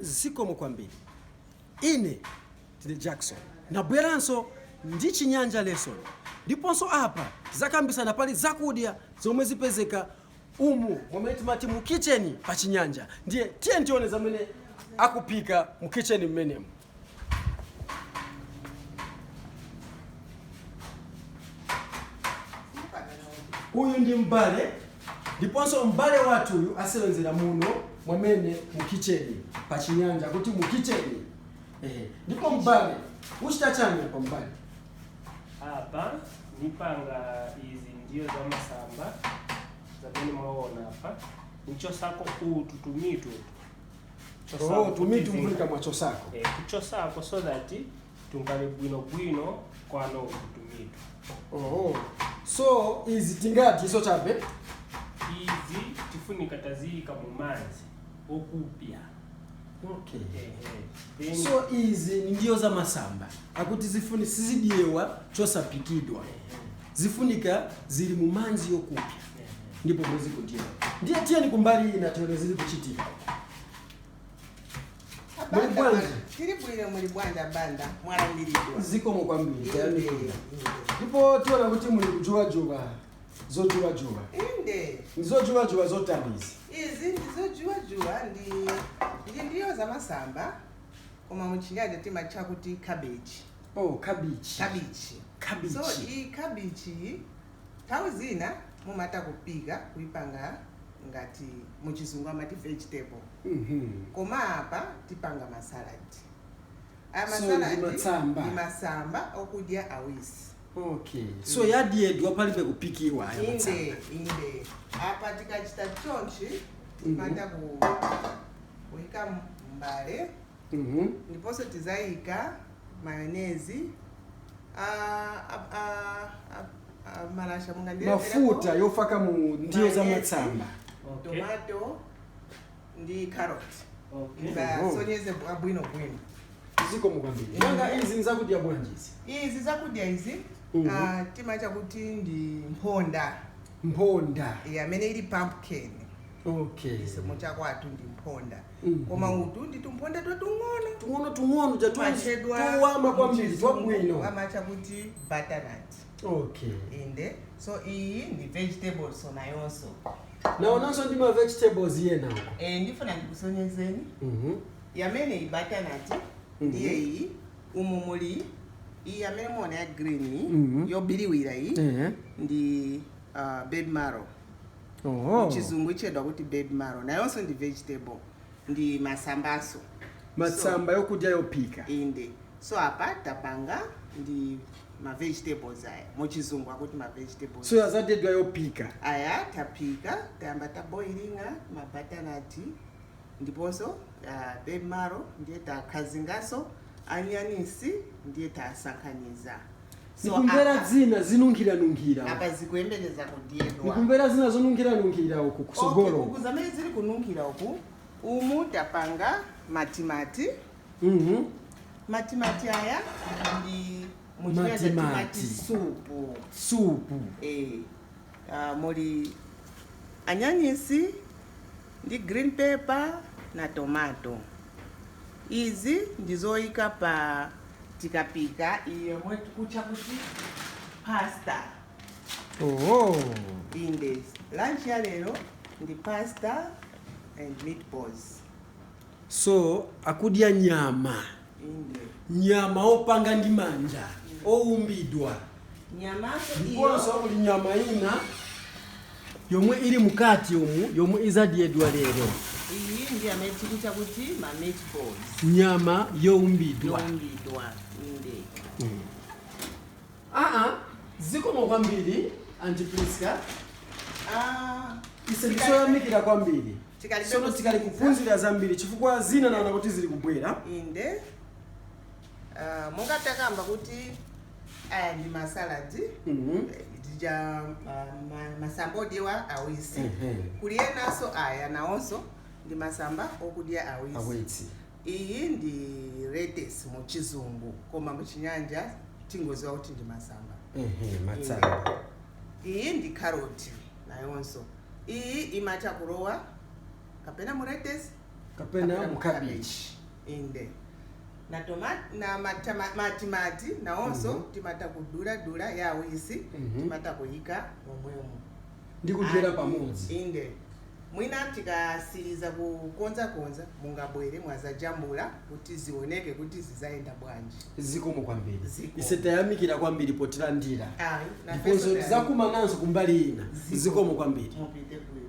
Zikomo kwambiri. Ine ndine Jackson, nabweranso ndi Chinyanja lesson ndiponso apa tizakambisana pali zakudya zomwe zipezeka umu mwamene timati mu kitchen pa Chinyanja ndiye tiyeni tione zamene akuphika mu kitchen mmenemu. uyu ndi mbale ndiponso mbale wathu uyu asewenzera muno mwamene mu kitcheni pa chinyanja kuti mu kitcheni ehe ndipo mbale uchita chani pa mbale apa ndipanga izi ndiyo za masamba zamene mwaona apa nichosako utu tumitu Oh, to me tumvulika mwachosako Eh, kuchosako so that tungale bwinobwino kwano kutumitu oh. so izi tingati iso chabe izi tifunika taziyika mu manzi okupya okay. Ehe. Then- so izi ni ndiyo za masamba akuti zifuni sizidyewa chosapikidwa zifunika zili mu manzi yokupya ndipo muzikudya ndiye tiyeni kumbali ina tione zili kuchitika Muli bwanji? tiri bwino muli bwanji a Banda mwalandiridwa zikomo kwambiri tayamikira ndipo tiona kuti muli kujuwajuwa zojuwajuwa inde ndi zojuwajuwa zotani izi izi ndizojuwajuwa ni ndiyo zamasamba koma muchinyanja timatcha kuti cabbage Oh, kabichi. kabichi so Kabichi. iyi kabichi iyi nthawi zina mumatha kupika kuipanga ngati muchizungu amati vegetable Mhm. koma apa tipanga masaladi aya So, masaladi ndi matsamba. ndi masamba okudya awisi Okay. So yadyedwa palibe kupikiwa aya inde matsamba. inde apa tikachita chonchi timatha ku kuika mbale ndiponso tizaika mayonezi a, a, a, a, a malasha mungandirezerepo mafuta yofaka mu ndiyo za Mayonezi. matsamba Okay. tomato ndi carrot Okay. ndasonyeze bwino bwino zikomo kwambiri nanga izi nzakudya bwanji izi izi zakudya izi Mhm. ah, timatcha kuti ndi mphonda mphonda Eh, amene ili pumpkin okay mu chakwathu ndi mphonda koma utu ndi tumphonda twatung'ono tung'ono tung'ono ja tumatchedwa tuwama kwambiri m'chizungu, twabwino amatcha kuti butternut okay inde so iyi ndi vegetable so nayonso naonanso ndi ma vegetables yena uko e, ndifuna ndikusonyezeni Mhm. yamene iyi butternut ndiye iyi umu muli iyi yamene muona ya green iyi, Mhm. yobiriwira iyi Ehe. ndi uh, baby marrow Oho. muchizungu itchedwa kuti baby marrow nayonso ndi vegetable ndi masambanso matsamba yokudya yophika so, inde so apa tapanga ndi ma vegetables aya muchizungu akuti ma vegetables so yazadyedwa yophika aya taphika tayamba ta boilinga ma butternut ndiponso uh, baby marrow ndiye takazinganso anyanisi ndiye tasakaniza So, mukumvera apa- zina zinunkhira-nunkhira apa zikuyembekeza kudyedwa mukumvera zina zonunkhira-nunkhira uku Okay, kusogolo uku zamene zili kununkhira uku umu tapanga matimati Mhm. matimati aya ndi muchinyanja Matimati. timati supu supu Eh, Uh, muli anyanyisi ndi green pepper na tomato. Izi ndi zoyika pa tikapika iyo yomwe tikutcha kuti pasta. Oh. Inde, lunch ya lero ndi pasta and meatballs. So akudya nyama. nyama opanga ndi manja oumbidwa ndiponso kuli nyama ina yomwe ili mkati umu yomwe izadyedwa lero iyi ndi amene tikucha kuti ma meatballs nyama youmbidwa youmbidwa inde aa zikomo kwambiri Auntie Priska Ah, ise ndifeoyamikira kwambiri Tikali Sono bekuzi- tikali kuphunzira zambiri chifukwa zina naona kuti zili kubwera. inde Ah, monga ndakamba kuti aya ndi masaladi Mhm. ja masamba odyedwa awisi Ehe. kuli enanso aya nawonso ndi masamba okudya awisi Awisi. iyi ndi lettuce mu chizungu koma mu chinyanja tingoziwa kuti ndi masamba Ehe, matsamba. iyi ndi karoti nayonso Iyi imatha kulowa kapena mu lettuce kapena mu cabbage. Inde. Na tomato, na matama, matimati nawonso mm -hmm. timatha kudula dula ya awisi mm -hmm. timatha kuyika momwemo ndi kudyera pamodzi. Inde. Mwina tikasiriza kukonza konza mungabwere mudzajambula. kuti zioneke kuti zizayenda bwanji zikomo kwambiri Zikomo. ise tayamikira kwambiri potilandira Ayi, nafenso ndiponso tayamikira. tizakumananso kumbali ina zikomo kwambiri mupite bwino